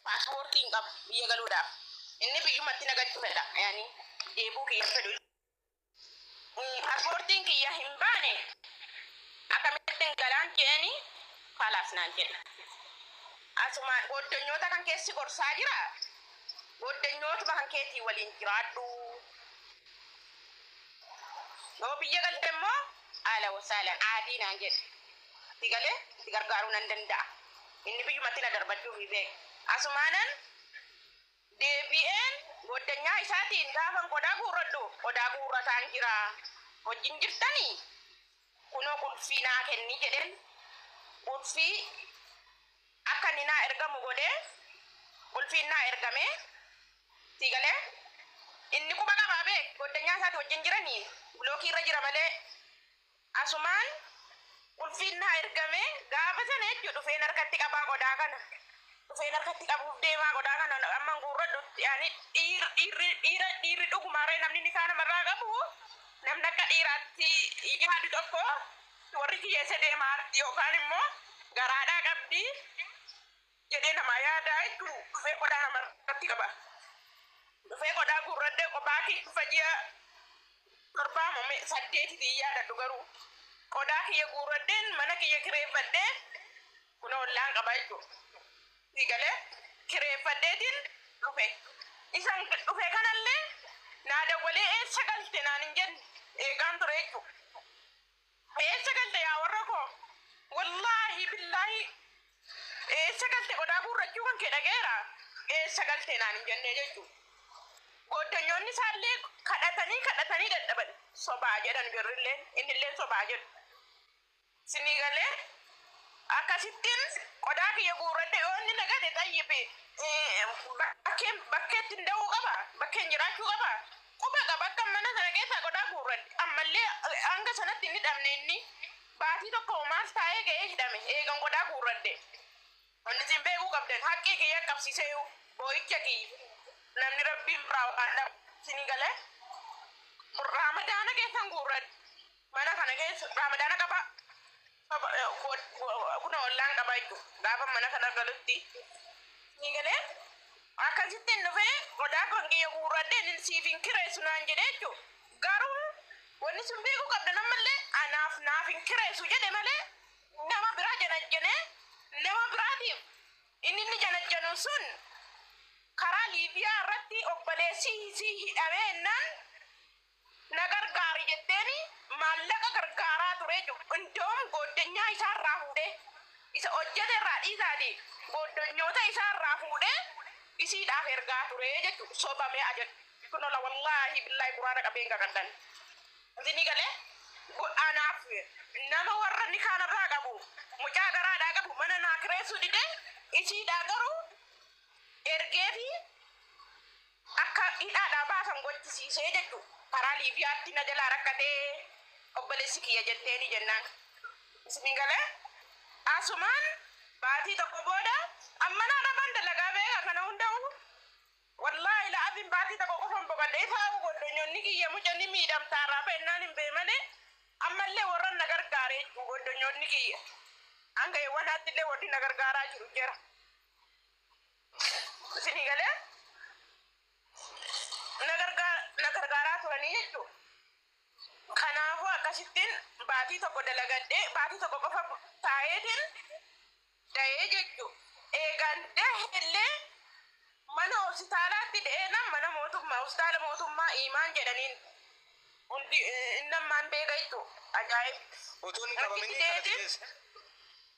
Paaspoortii hin qabu biyya galuudhaaf. Inni biyyumatti na galchu fedha. Yani deebuu kiyya hin fedhu. Mm, Paaspoortiin kiyya hin baane akkamittin galaan je'eeni kalaas naan jedhe. Asumaan gooddanyoota kan keessi gorsaa jira. Gooddanyootuma kan keetii waliin jiraadhu. Yoo biyya galte immoo aala wasaalan aadii naan jedhe. Maatii galee itti gargaaruu nan danda'a. Inni biyyumatti na darbachuufii beeka. Asumaanan deebi'een gooddanyaa isaatiin gaafan qodaa guurradhu, qodaa guurrataan jira. Wajjin jirtanii? Kunoo qulfii naa kenni jedheen qulfii akka inni naa ergamu godhee qulfiin naa ergame. Sii galee? Inni quba qabaa beek gooddanyaa isaati wajjin jiranii bilookii irra jira malee Asumaan qulfiin naa ergame gaafa sana jechuudha dhufeen harkatti qabaa qodaa kana dhufeen harkatti qabuuf deemaa qodaa kana amman guurradhutti ani dhiir dhiirri dhiira dhiirri dhugumaaree namni nikaa namarraa qabu namni akka dhiiraatti yaadu tokko warri kiyyeesse deemaa arti yookaan immoo garaadhaa qabdi jedhee namaa yaadaa hedduu dhufee qodaa nama irratti qaba. Dhufee qodaa guurradhee qophaa kiyya dhufa ji'a torbaa moo me- saddeetiif hin yaadadhu garuu qodaa kiyya guurradheen mana kiyya kireeffadhee kunoo ollaan qaba jechuudha. Sii galee kireeffadheetiin dhufe. Isan dhufe kanallee naa dawwalee eessa galte naan hin jenne eegaan ture jechuudha. Me eessa galte yaa warra koo? Wallaahi billaahi eessa galte qodaa guurrachuu kan kee dhaga'eera. Eessa galte naan hin jennee jechuu. Gooddanyoonni isaallee kadhatanii kadhatanii dadhaban. Sobaa jedhan jarrilleen innilleen sobaa jedhu. Sinii galee akkasittiin qodaa kiyya guurradhe yoo inni na gate xayyibi bakkeen bakkeetti hin da'uu qaba bakkeen jiraachuu qaba. Quba qaba akkan mana sana keessaa qodaa guurradhe. Ammallee hanga sanatti hin hidhamne inni. Baatii tokko hoo maal taa'ee ga'ee hidhame eegan qodaa guurradhe. Wanni isin beekuu qabdan haqqii kiyya qabsiiseeyu boo'icha kiyya. Namni Rabbii biraa waan dhabu isinii gale. Raamadaana keessan guurradhe. Mana kana keessa raamadaana qabaa. Kunoo ollaan qabaa jechuudha. Gaafa mana kana galutti ni galee akkasitti hin dhufee qodaa kan kiyya guurradhe inni siif hin kireessu naan jedhe jechuudha. Garuu wanni sun beekuu qabda nammallee anaaf naaf hin kireessu jedhe malee nama biraa janajjanee nama biraatiif inni inni janajjanu sun karaa Liibiyaa irratti obboleessi isii hidhamee jennaan Na gargaari jetteeni maallaqa gargaaraa ture jechuudha. Indoom gooddanyaa isaa irraa fuudhee, isa hojjete irraa dhiisaati gooddanyoota isaa irraa fuudhee isiidhaaf ergaa ture jechuudha. Soba mee ajadhu. Kunoo la wallaahi billaahi quraana qabee hin qaqadhan. Isinii galee? Go- Anaaf nama warra nikaa narraa qabu mucaa garaadhaa qabu mana naa kireessuu didee isiidhaa garuu ergeefi Akka hidhaadhaa baasan gochisiisee jechu karaa Liibiyaatti na jalaa rakkate obboleessi kiyya jetteeni jennaan isinii galee asumaan baatii tokko booda an manaa dhaqan dalagaa beeka kana hunda'uu wallaahi la'aziim baatii tokko qofan boqadhe isaa'uu goddonyonni kiyya muca ni miidhamtaa raafa ennaan hin bee malee ammallee warran na gargaare jechu goddonyonni kiyya hanga yewwanaattillee warri na gargaaraa jiru jera. Isinii galee na gargaa na gargaaraa turanii jechuu. Kanaafuu akkasittiin baatii tokko dalagadhee baatii tokko qofa taa'eetiin da'ee jechuu. Eegaan dahellee mana hospitaalaatti da'eenaan mana mootummaa hospitaala mootummaa imaan jedhaniin hundi innammaan beeka jechuu. Ajaa'ib. Otoo hin qabamini Rakkichi kana deetiin- fidees.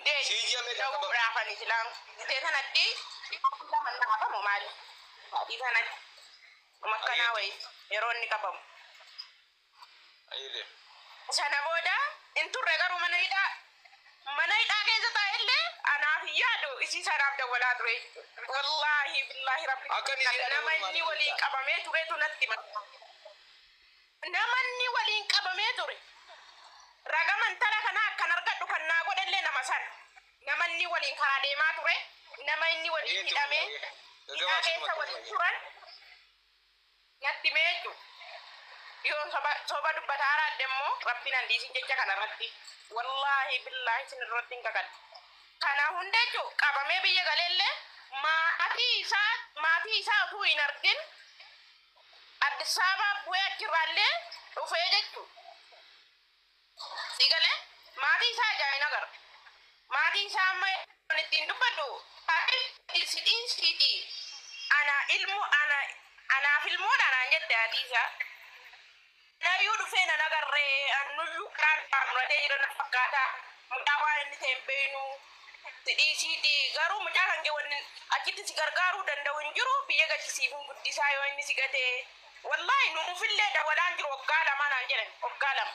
Ndee dawuu raafani silaan ndee tanatti dhiiraa manna hafamu maali adii tanatti makkanaa wayi yeroo inni qabamu sana booda hin turre garuu mana hidhaa mana hidhaa keessa taa'e illee anaaf hin yaadu isii sanaaf dawwalaa ture wallaahi billaahi rabbi nama inni waliin qabamee turetu natti Namanni waliin qabamee ture. Raga mantara kanaa akkan argadhu kan naa godhellee nama sana. Nama inni waliin karaa deemaa ture, nama inni waliin Eeyyee, hidhamee eeyyee. hidhaa Gaggabaabsii keessa maqaa waliin isaanii. turan natti himee jechuudha. Yoo soba, soba dubbataa araadde immoo rabbiin an dhiisin jecha kana irratti. Wallaahi billaahi isin irratti hin kakadhu. Kana hunda jechuun qabamee biyya galeellee maatii isaa maatii isaa utuu hin argin Addis Ababaa bu'ee achirraallee dhufee jechuudha. Sigalee maatii isaa ijaan hin agarre. Maatii isaa amma kan ittiin dubbadhu haadhi si dhiisiiti anaa ilmoo anaa anaaf ilmoodha naan jette haati isaa. Nayyuu dhufee nan agarre annuyyuu garaa irraa muratee jira na fakkaata mucaa waan inni ta'e hin beeynu si dhiisiiti garuu mucaa kan kee wanni achitti si gargaaruu danda'u hin jiru biyya galchi siifin guddisaa yoo inni si gate wallaahi nuufillee dawalaan jiru waggaa lamaa naan jedhan waggaa lama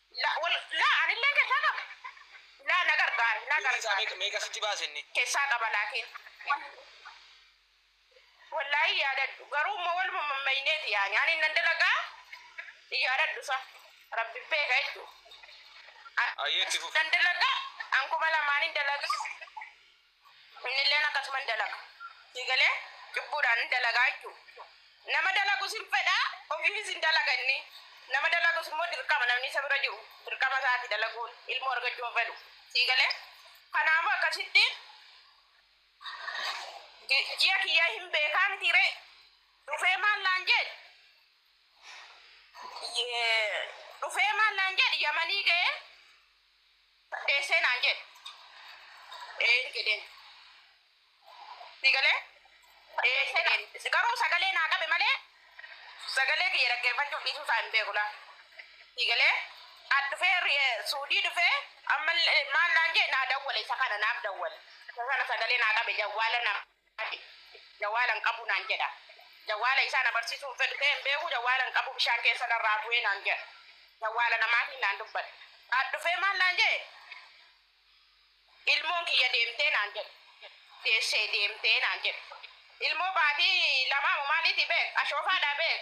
La wal la anillee keessaa qaba. La na gargaari na Birrii isaa gargaari. meeqa meeqa sitti baase inni? Keessaa qaba laakiin. Wallaahii yaadadhu garuu immoo waluma mammayneeti yaani ani nan dalagaa hin yaadadhu sa rabbi beeka hedduu. Ayyee itti fufi. Nan dalagaa an kuma lamaan hin dalagaa. Innilleen akkasuma hin dalaga. Sii galee? Cubbuudhaan hin dalagaa jechuudha. Nama dalagus hin fedha, ofiifis hin dalaga inni. Nama dalagus immoo dirqama namni isa bira jiru dirqama isaati dalaguun ilmoo argachuu hin fedhu. Sii galee? Kanaafuu akkasitti ji'a kiyya hin beekaa mitii ree? Dhufee maal naan jedhe? Dhufee maal naan jedhe? Yamanii ga'ee deessee naan jedhe een jedheen si galee deessee naan garuu sagalee naa qabe malee sagalee kiyya dhaggeeffachuuf dhiisuu isaa hin beeku laa si galee as dhufee ri- suudii dhufee ammallee maal naan jedhe naa dawwale isa kana naaf dawwale isa sana sagalee naa qabe jawwaala nama Ati jawaala hin qabu naan jedha. Jawaala isaa na barsiisuu hin fedhu ta'ee hin beeku jawaala hin qabu bishaan keessa narraa bu'ee naan jedha. Jawaala namaatiin naan dubbate. As dhufee maal naan jedhe ilmoon kiyya deemtee naan jedhe. Deessee deemtee naan jedhe. Ilmoo baatii lamaa moo maaliitii beek ashoofaadhaa beek.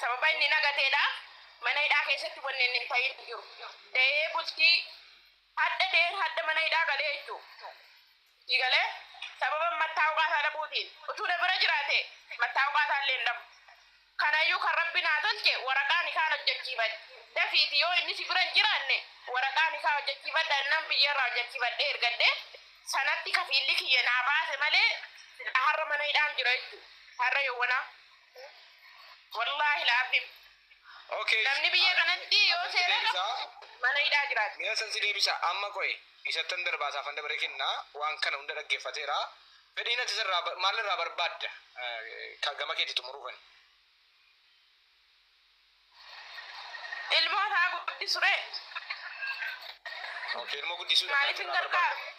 Sababa inni nagateedha. Mana hidhaa keessatti wanni inni hin ta'in hin jiru. Da'ee bultii hadha da'een hadha mana hidhaa galee jechuudha. Itti galee sababa mattaawqaa isaa dhabuutiin utuu na bira jiraate mattaawqaa isaa illee hin dhabu. Kanaayyuu kan Rabbi naa tolche waraqaa nikaah hojjachiifadhe. Dafiiti yoo inni si bira hin jiraanne waraqaa nikaah hojjachiifadha jennaan biyyarraa hojjachiifadhee ergadhe. Sanatti kafiilli kiyya naa baase malee silaa har'a mana hidhaan jira jechuudha. Har'a yowwanaa. Wallaahi la'aziim. Okay. Namni biyya kanatti yoo seera qabu mana hidhaa jiraata. Mee asan si deebisa. Amma qoyi. Isattan darbaa isaafan dabaree kenna. Waan kana hunda dhaggeeffateera. Fedhiin ati isarraa ba- maal irraa barbaadda? Eh, ka- Gama keetti xumuruufan. Ilmoo isaa guddisu ree. Okay, ilmoo guddisuu dha kan Maaliif hin irraa gargaaru? barbaaddu.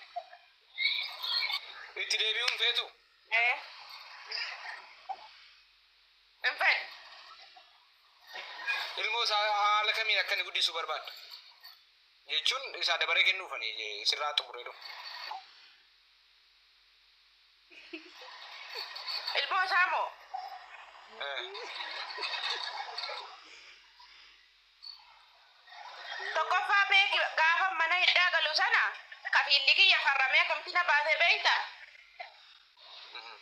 Itti deebi'uu hin feetu. Eh. Hin fedhu. Ilmoo isaa haala kamiin akka inni guddisuu barbaadda? jechuun isaa dabaree kennuuf ani sirraa xumuree dhufu. Ilmoo isaa moo? Eh, Tokkoffaa beeki gaafa mana hidhaa galu sana kafiilli kiyya farramee akkamitti na baasee beekta? mhm.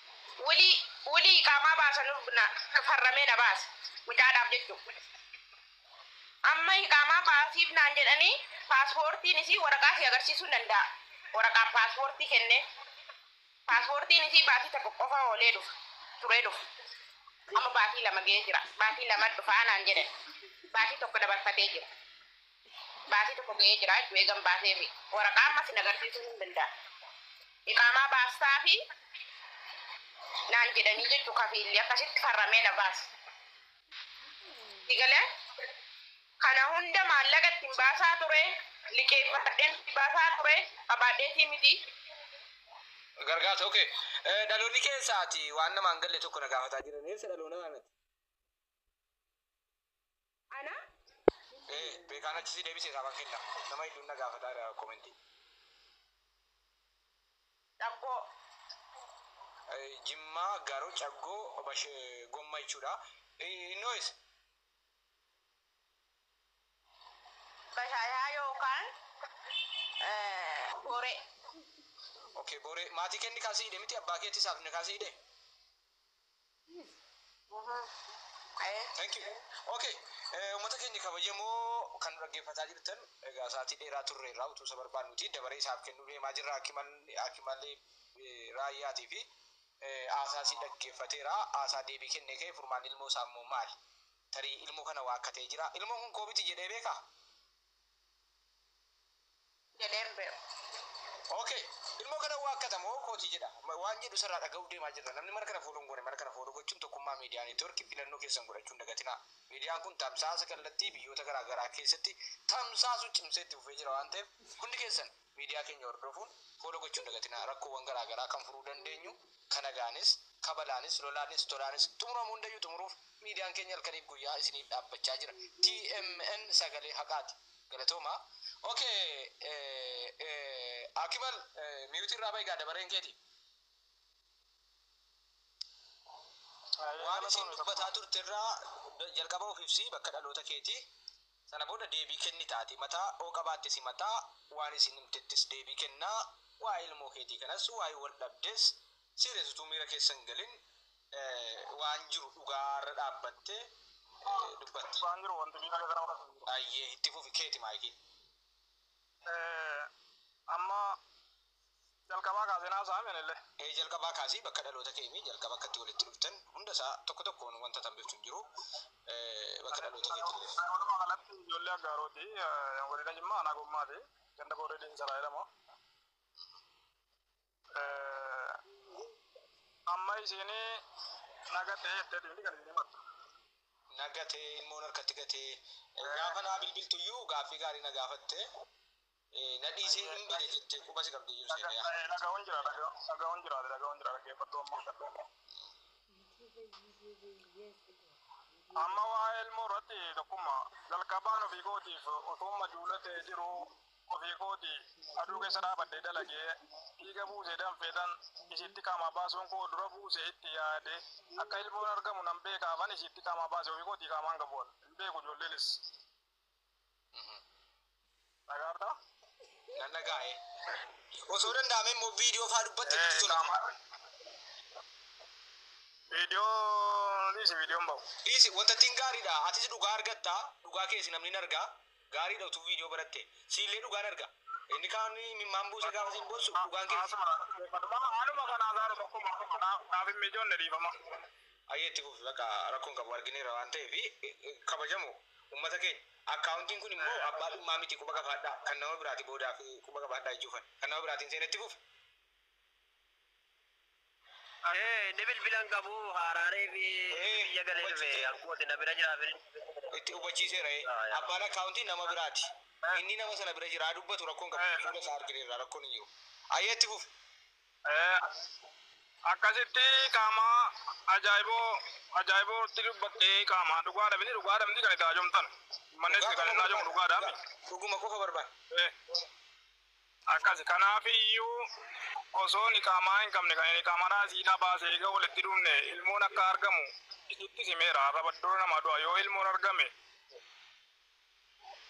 Wulii wulii qaamaa baasanuuf na farramee na baase. Mucaadhaaf jechuudha. Amma iqaamaa baasiifnaan jedhanii paaspoortiin isii waraqaa si agarsiisuu hin danda'a. Waraqaan paaspoortii kennee paaspoortiin isii baatii tokko qofa oolee dhufa turee dhufa. Amma baatii lama ga'ee jira. Baatii lama dhufaa naan jedhan. Baatii tokko dabarfatee jira. Baatii tokko ga'ee jira jechuu eegan baasee fi waraqaa amma sin agarsiisuu hin danda'a. Iqaamaa baastaa fi naan jedhanii jechuu kafiilli akkasitti farramee na baase. Sigalee kana hunda maallaqa ittiin baasaa ture liqeeffadheen baasaa ture qabaadheetii miti. Gargaarsa okay. Eh, Dhaloonni keessaati waan namaan galle tokko na gaafataa jiran eessa dhaloona kanati? Ana Eh, beekaan achi si deebise isaa bakkeedha. Nama hedduun na gaafataa jira komentii. Caggoo, Jimmaa, Garo, Caggoo, Bash, Gomma jechuudha. Innoo is. Bashaayaa yookaan Boree. Okay, Boree. Maatii kee inni kaan si hidhe miti? Abbaa keetis haadha kee si hidhe? Thank you. Okay. Eh, Uummata keenya kabajamoo kan nu dhaggeeffataa jirtan egaa sa'aatii dheeraa turre irraa utuu isa barbaannuti dabaree isaaf kennuu deemaa jirra Hakimal- hakimalee eh, raayyaatii fi eh, haasaa isii dhaggeeffateera haasaa deebii kennee ka'e furmaan ilmoo isaa immoo maali tarii ilmoo kana waakkatee jira ilmoon kun koobiti jedhee beekaa jedheen beeku. Ok. Ilmoo kana waakkata moo kooti jedha? Waan jedhu isarraa dhaga'uuf deemaa jirra. Namni mana kana follow hin goone mana kana follow gochuun tokkummaa media network filannoo keessan godhachuu hin dagatinaa. Median kun tamsaasa kallattii biyyoota garaa garaa keessatti tamsaasuu cimsee itti fufee jira waan ta'eef hundi keessan. Miidiyaa keenya hordofuun follow gochuu hin dagatinaa rakkoowwan garaa garaa kan furuu dandeenyu ka nagaanis ka balaanis lolaanis tolaanis xumuramu hundayyuu xumuruuf miidiyaan keenya halkaniif guyyaa isiniif dhaabbachaa jira TMN sagalee haqaati galatoomaa ok Akimal mute irraa bahi gaa dabareen keeti waan isiin dubbataa turte irraa jalqaba of ibsi bakka dhaloota keeti Sana booda deebii kennita. Ati mataa oo qabaatte si mataa, waan isiin himtettis deebii kennaa, waa'ee ilmoo keetii kanas, waa'ee wal dhabdees serious utuu miira keessa hin galin waan jiru dhugaa irra dhaabbatte dubbatti. Dhugaan jiru wanti miira keessa nama galchu hin jiru. Ayyee itti fufi keeti maayikiin. Amma jalqabaa kaaseen haasa'aa meen illee. Ee jalqabaa kaasii bakka dhaloota kee himii jalqaba akka itti walitti dhuftan hunda isaa tokko tokkoon wanta tambiftu hin jiru bakka dhaloota keetti illee. Walumaa galatti ijoollee Aggaarooti godina Jimmaa aanaa Gommaati ganda Booree Diinsaraa jedhama. Amma isiin nagatee jetteeti kan inni himattu. Nagatee ilmoon harkatti gatee gaafa naa bilbiltuyyuu gaaffii gaarii na gaafatte. Na dhiisii hin bade jettee quba si qabdee jiru seenee yaa. Dhaga'uun jira dhaga'uun jira dhaga'uun jira dhaggeeffattuu ammoo. Amma waa'ee ilmoo irratti tokkummaa jalqabaan ofii kootiif utuun majuula ta'ee jiru ofii kooti aduu keessa dhaabadhee dalagee dhiiga buusee danfeetan isiitti qaamaa baasuun koo dura buusee itti yaade akka ilmoon argamu nan beekaafan isiitti qaamaa baase ofii kootii qaamaan gabu'an hin beeku ijoolleenis. Dhagaartaa? Nan dhagaa'e. Osoo danda'ame immoo viidiyoo faa dubbatte nutti tola. Viidiyoo dhiisi viidiyoon bahu. Dhiisi wanta ittiin gaariidha. Atis dhugaa argatta. Dhugaa kees namni hin arga. Gaariidha utuu viidiyoo baratte. Siillee dhugaan arga. Inni kaan mimmaan buuse gaafa siin boossu dhugaan kees. Haaluma kanaa gaaruma akkuma naaf hin mijoonne dhiifama. Ayyee itti fufi bakka rakkoon qabu argineera waan ta'eef kabajamu Ummata keenya. Accountin kun immoo abbaa dhummaa miti quba qabaadhaa kan nama biraati boodaaf quba qabaadhaa ijoo fan kan nama biraatiin seena itti fufa. Ani bilbila hin qabu haaraaree fi biyya galee dhufe ankooti na bira jira bilbila. Itti hubachiiseera ee. Abbaan accountin nama biraati. Inni nama sana bira jira haa dubbatu rakkoon qabu fuula isaa argineerra rakkoon hin jiru. Ayyee itti fufa. Akkasitti qaama ajaa'iboo ajaa'ibootti dubbatte qaama dhugaadha miti dhugaadha miti kan itti haajomtan manni itti kan inni haajomu dhugaadha miti. Dhuguma qofa barbaada. Akkasi kanaaf iyyuu osoo niqaamaa hin qabne kan niqaamadhaa isiidhaa baase eega walitti dhufne ilmoon akka argamu isittis himeera arraba dura namaa du'a yoo ilmoon argame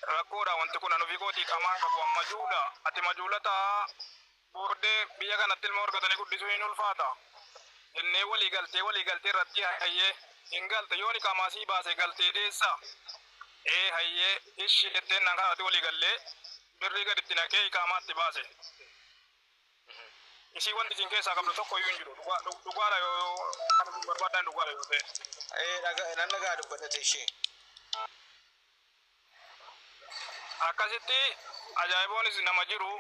Rakkoodha wanti kun an ofii kootii qamaan qabu an majuula ati majuula ta'a boordee biyya kanatti ilmoo argatanii guddisuu hin ulfaata jennee walii galtee walii galtee irratti hayyee hin galte yooni qaamaa sii baase galtee deessa ee hayyee ishi jetteen naan kanarratti walii gallee birrii gaditti naqee iqaamaa itti baase Isii wanti isin keessaa qabdu tokko iyyuu hin jiru. Dhugaa dhug- dhugaadha yoo yoo kan isin barbaaddan dhugaadha yoo ta'e. Ee dhaga nan dhagaa dubbadhate ishee. Akkasitti ajaa'iboonis nama jiru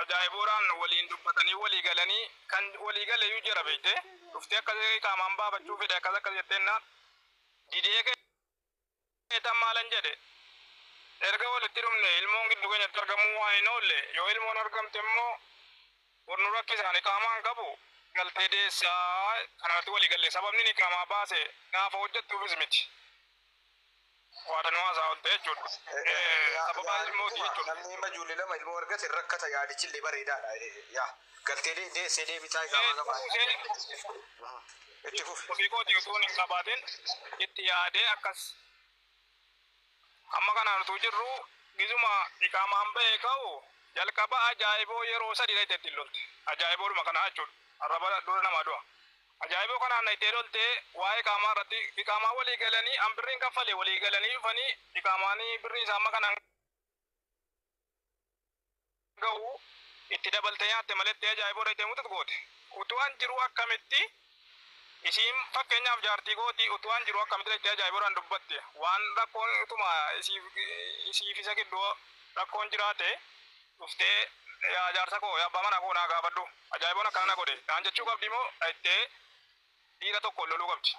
ajaa'iboodhaan waliin dubbatanii walii galanii kan walii gale iyyuu jira beekte. Dhuftee akkas qaamaan baafachuu fedhe akkas akkas jetteen naan didee kee Eetan maalan jedhe? Erga walitti dhumnee ilmoon giddu keenyatti argamuu waan hin oolle yoo ilmoon argamte immoo bor nu rakkisa ani iqaamaa hin qabu galtee deessa kana irratti walii galle sababnin iqaamaa baase naafa hojjattuufis miti waada nu haasaa oolte jechuudha sababa ilmooti jechuudha. Namni amma ijoollee lama ilmoo argate hin rakkata yaadichi illee bareedaadha yaa galtee deessee deebitaa iqaamaa qabaate. Itti fufi. Ofii kootii utuun hin qabaatin itti yaadee akkas amma kanaan utuu jirru gizuma iqaamaan ba'ee ka'u jalqaba ajaa'iboo yeroo sadii dhayxee ittiin lolte. Ajaa'iboodhuma kanaa jechuudha. Arraba dura namaa du'a. Ajaa'iboo kanaan dhayxee lolte waa'ee iqaamaa irratti iqaamaa walii galanii an birriin kaffale walii galanii dhufanii iqaamaan birrii isaa amma kanaan gahu itti dabalte nyaatte maletti ajaa'iboo dhayxee muxux goote utuu an jiruu akkamitti isiin fakkeenyaaf jaartii kooti utuu an jiruu akkamitti dhayxee ajaa'iboodhaan dubbatti waan rakkoon utuma isiif isiif isa gidduu rakkoon jiraate dhuftee yaa jaarsa koo yaa abbaa manaa koo naa gaafadhu ajaa'iboon akkana na godhe naan jechuu qabdii moo dhayxee dhiira tokkoon loluu qabdi.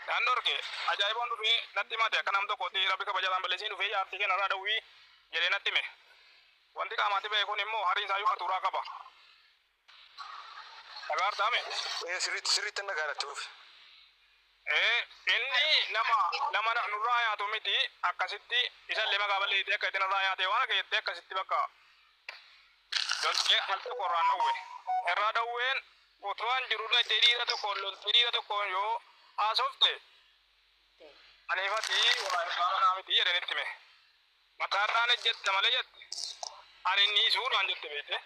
Kan dhorke ajaa'iboon dhufee natti himate akka nam tokkootti rabbi kabajaadhaan balleessiin dhufee jaartii kee narraa dhowwii jedhee natti hime. Wanti qaamaatti ba'e kun immoo har'i isaayyuu hatuuraa qaba. Dhagaartaa mee? Ee sirriitti sirriitti hin dhagaadha itti fufi. Ee inni nama nama na- nurraa yaatu miti akkasitti isallee maqaa balleessitee akka itti narraa yaatee waan akka jettee akkasitti bakka Loltee al tokko irraan dhowwe. Irraa dhowween utumaan jiru dhaqxee dhiira tokkoon loltee dhiira tokkoon yoo haasofte aniif ati waa irraa manaa miti jedheen itti hime. Mataa irraan ejjetta malee jette. Ani inni isuu naan jette beekte.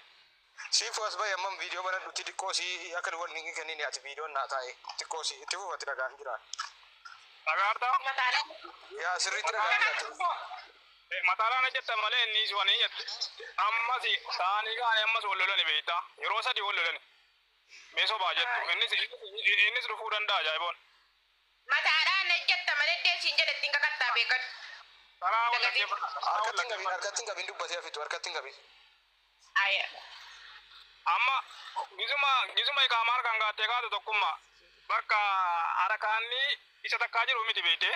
Siifu as bahi ammam viidiyoo banadhutti xiqqoo si akka nu walni kennin ati viidiyoon naa taa'e xiqqoo si itti fufatti dhagaan jira. Dhagaartaa? Yaa sirriitti dhagaan jira. Mataalaa na jettan malee inni si fane jette. Ammas saanii kaane ammas wal lolani beektaa. Yeroo sadii wal lolani. Mee sobaa jettu. Innis innis dhufuu danda'a ajaa'iboon. Mataadhaa na jetta malee dee siin jedhe ittiin kakattaa beekadhu. Karaa wal Dagatiin. dhaggeeffadha. Karaa wal Harkatti hin qabin, dhaggeeffadha. harkatti hin qabin dubbatee hafitu, harkatti hin qabin. Aya. Amma gisuma gisuma iqaamaa harkaan gaattee kaatu tokkummaa. Bakka harakaanni isa takkaa jiru miti beektee.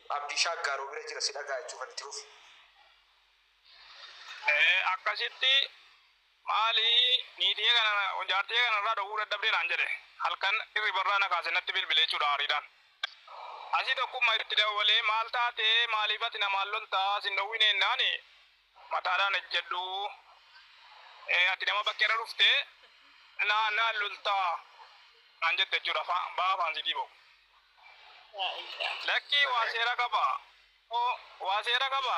Abdii shaaggaaroo bira jira si dhagaa jechuu kan itti fufi. Eh, akkasitti maali niitii kana jaartii kana irraa dhowwuu dadhabdee naan jedhe halkan hirribarraa na kaase natti bilbilee jechuudha aariidhaan. Asii tokkummaa itti dawwalee maal taatee maaliif ati namaan loltaa sin dhowwine jennaan mataadhaan ejjedhu Eh, ati nama bakkeerra dhuftee naa naan loltaa naan jette jechuudha Fa- baa faansiitii ba'u. Lakkii waa seera qaba. Hoo waa seera qaba.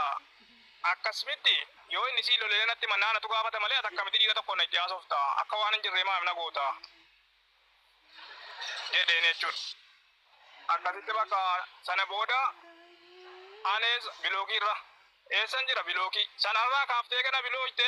Akkas mitti yoo inni sii lolelee natti hima naa natu gaafata malee ati akkamitti dhiira tokkoon na itti haasofta akka waan hin jirree maaf na goota jedheen jechuun. Akkasitti bakka sana booda anees bilookiirra eessan jira bilookii sanarraa kaaftee gana bilooyte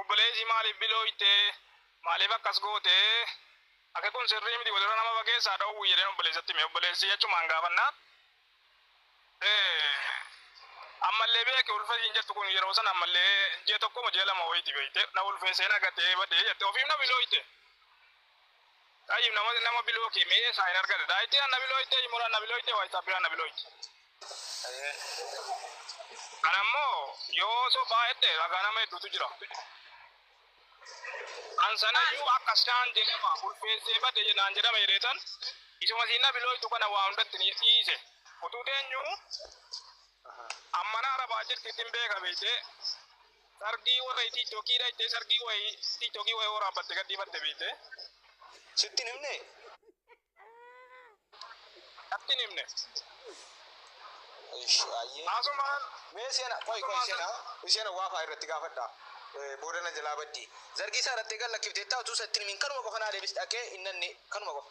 Obboleessi maaliif bilooyte? Maaliif akkas goote? Akki kun sirrii miti walirra nama fageessaa dhoowwi jedheen obboleessatti hime. Obboleessi achumaan gaafannaan ee ammallee beeki ulfa ishiin jettu kun yeroo sana ammallee ji'a tokko moo ji'a lama wayiiti beekte na ulfeessee na gatee badee jette ofiif na bilooyte. Tayyib nama nama biloo kee mee eessaa hin argate daayitti anna biloo itti imura anna biloo itti waayitsaaf bira anna biloo itti. Kan ammoo yoo osoo baay'atte ragaa nama hedduutu jira. Kan sanayyuu akka isaan jedhama ulfeessee bade jedhaan jedhama jedheetan isuma siinna biloo ittu kana waa hundatti ni dhiise. Utuu teenyuu ammana arabaa jirti ittiin beeka beektee Sargii warra itti ittokii dha ittee sargii wayii itti ittokii wayii waraabbatte gadhiifatte beekte. Sitti hin himne? Atti hin himne. Ish ayyee. Asumaan Mee seena qoy qoy seena seena waafaa irratti gaafadha. Eh, Booda na jalaa baddi. Zargii isaa irratti eegan lakkifteettaa utuu isa ittiin himin kanuma qofa naa deebis dhaqee hin nanne kanuma qofa.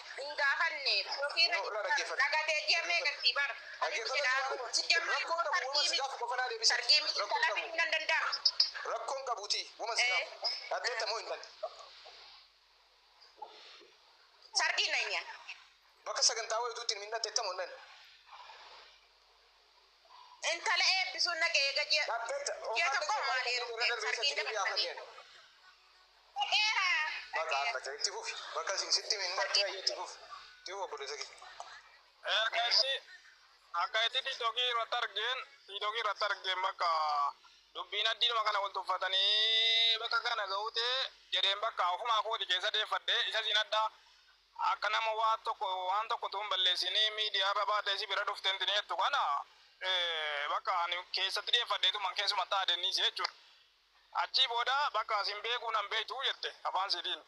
hin gaafanne ofii irra Yoo na dhaggeeffadhu. dhagatee ji'a meeqa sii bara Rakkoon qabu wama si gaafu qofa naa deebisa. sargii miti Rakkoon talafii qabu. nan danda'a Rakkoon qabuuti wama si Eh. gaafu. Dhaddeetta moo hin dhanne? sargii nanya Bakka sagantaa wayituutti hin dhandeetta moo hin dhanne? Intala eebbisuun naga eega ji'a ji'a tokko maal heerumte sargiin dabartanii. Dhaqeera. Maqaa amma ta'e itti fufi. Bakka isin sitti himin dhaqee ayya itti fufi. Itti fufi obboleessa kee. Erga itti akka itti tiktokii irratti argeen tiktokii irratti argeen bakka dubbiin addiidhuma kana wal tuffatanii bakka kana ga'ute jedheen bakka ofumaa kooti keessa deeffadhe isa siin addaa Akka nama waan tokko waan tokko utuu hin balleessinii miidiyaa irra baatee si bira dhuftee intinii jettu kana bakka ani keessatti dhiyeeffadheetuman keessumatti aadennise jechuudha. Achii booda bakka sin beekuu nan beektu jette afaan siitiin.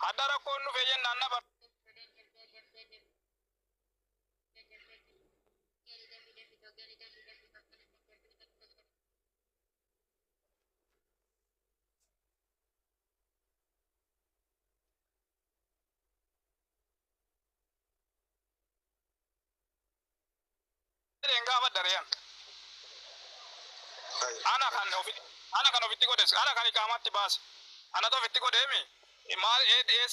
Hadha rakkoon dhufee jennaan na jedheen gaafadha re'an. Ana kan ofi ana kan ofitti godhes ana kan iqaamaatti baase anatu ofitti godheemi maal ADS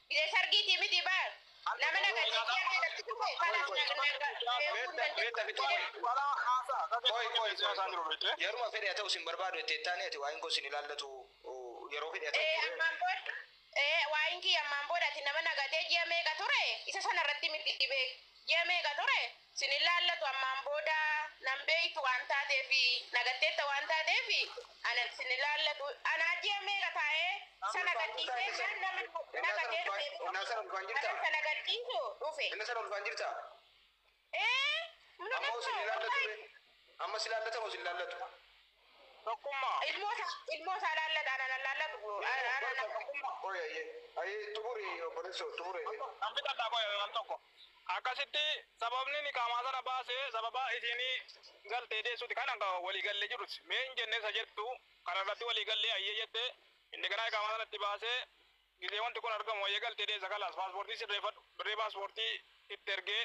Gidee sargiitii miti baar. Nama na gadhiisee harka irratti dhufe kanas na na na eeguu hin dandeenye. Walaa haasaa akka Qoy qoy qoy. isaan jiru beekte. Yeruma fedhe haa ta'u sin barbaadu itti ettaanii ati waa'een koo sin ilaallatu yeroo fedhe haa ta'u Ee turee. ammaan booda ee waa'een kiyya ammaan booda ati nama na gatee ji'a meeqa ture isa sana irratti miti beek ji'a meeqa ture sin hin laallatu ammaan booda nan beektu waan taateef na gatteetta waan taateef ana sin hin laallatu anaa ji'a meeqa taa'ee isa na gadhiisee jennaan nama na gatee dhufee kanan isa na gadhiisu dhufe Inna sana ulfaan jirta? ee Amma hoo sin hin laallatu ree? Amma si laallata moo sin laallatu? Tokkummaa. Ilmoota ilmoota alaallata anan allaallatu anan tokkummaa. Qoy ayyee ayyee xumuri obboleessoo xumuri mee. Nan fixadha qoy al tokko. Akkasitti sababni nikaamaa sana baase sababa isiin galtee deessuti kana kan walii galle jirus mee hin jenne isa jettu kana irratti walii gallee ayyee jette inni ganaa ikaamaa sana itti baasee gisee wanti kun argamu ayyee galtee deessa kalaas paaspoortii sirreeffadhu birrii paaspoortii itti ergee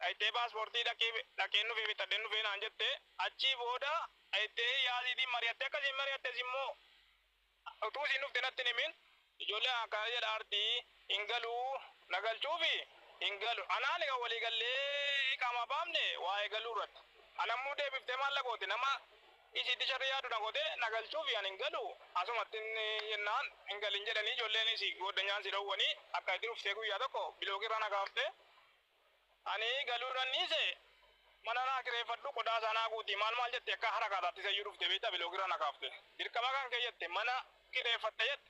Dhayxee paaspoortii dhaqeen dhufee bitadheen dhufee naan jette achii booda dhayxee yaasiitiin mari'attee akka isiin mari'attes immoo utuu isiin dhufte natti hin himin ijoollee akkana jedha arti hin galuu na galchuufi hin galu anaan egaa walii gallee iqaamaa baafne waa'ee galuu irratti ana immoo deebiftee maal na goote nama isiitti sharri yaadu na goote na galchuufi ani hin galu asumatti jennaan hin galin jedhanii ijoolleenis gooddanyaan si dhowwanii akka itti dhuftee guyyaa tokko biloogii irraa na kaaftee Ani galuurran dhiise mana naa kireeffadhu qodaa isaa naa guuti maal maal jette akka harakaataatti isayyuu dhufte beektaa biloogirra na kaafte. Dirqama kan kee jette mana kireeffadhe jette.